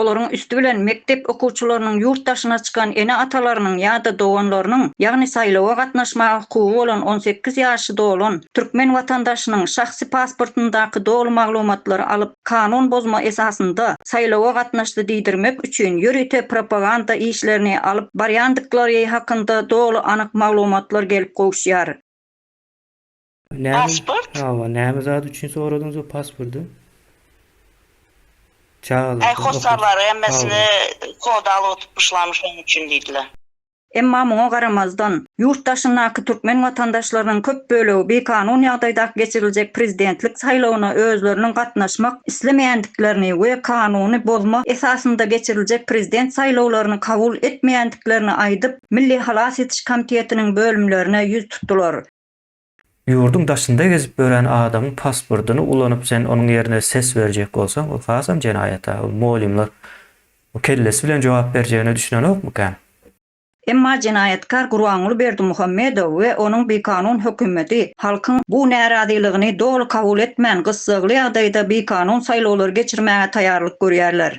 olaryň üsti bilen mekdep okuwçylarynyň ýurt daşyna çykan ene-atalarynyň ýa-da doganlarynyň, ýagny saýlawa gatnaşmaga hukugy bolan on sekiz ýaşy dolan türkmen watandaşynyň şahsy pasportyndaky doly maglumatlary alyp, kanun bozma esasynda saýlawa gatnaşdy diýdirmek üçin ýörite propaganda işlerini alyp barýandyklary hakynda doly anyk maglumatlar gelip gowuşýar. Pasport? Hawa, näme zat üçin soradyňyz o pasporty? Çagalar. Äý hossarlar hemmesini kod alyp oturtmyşlarmy şonuň üçin diýdiler. Emma muňa garamazdan, ýurt daşyndaky türkmen watandaşlarynyň köp bölegi bikanun ýagdaýdaky geçiriljek prezidentlik saýlawyna özleriniň gatnaşmak islemeýändiklerini we kanuny bozma esasynda geçiriljek prezident saýlawlaryny kabul etmeýändiklerini aýdyp, Milli halas etiş komitetiniň bölümlerine ýüz tutdular. Ýurduň daşynda gezip ýören adamyň pasportyny ulanyp sen onuň ýerine ses berjek bolsaň ol hasam jenaýata, ol molýumlar o kellesi bilen jogap berjegine düşünenokmykan? Emma jenaýatkar Gurbanguly Berdimuhamedow we onuň bikanun hökümeti halkyň bu närazylygyny doly kabul etmän gyssagly ýagdaýda bikanun saýlawlary geçirmäge taýarlyk görýärler.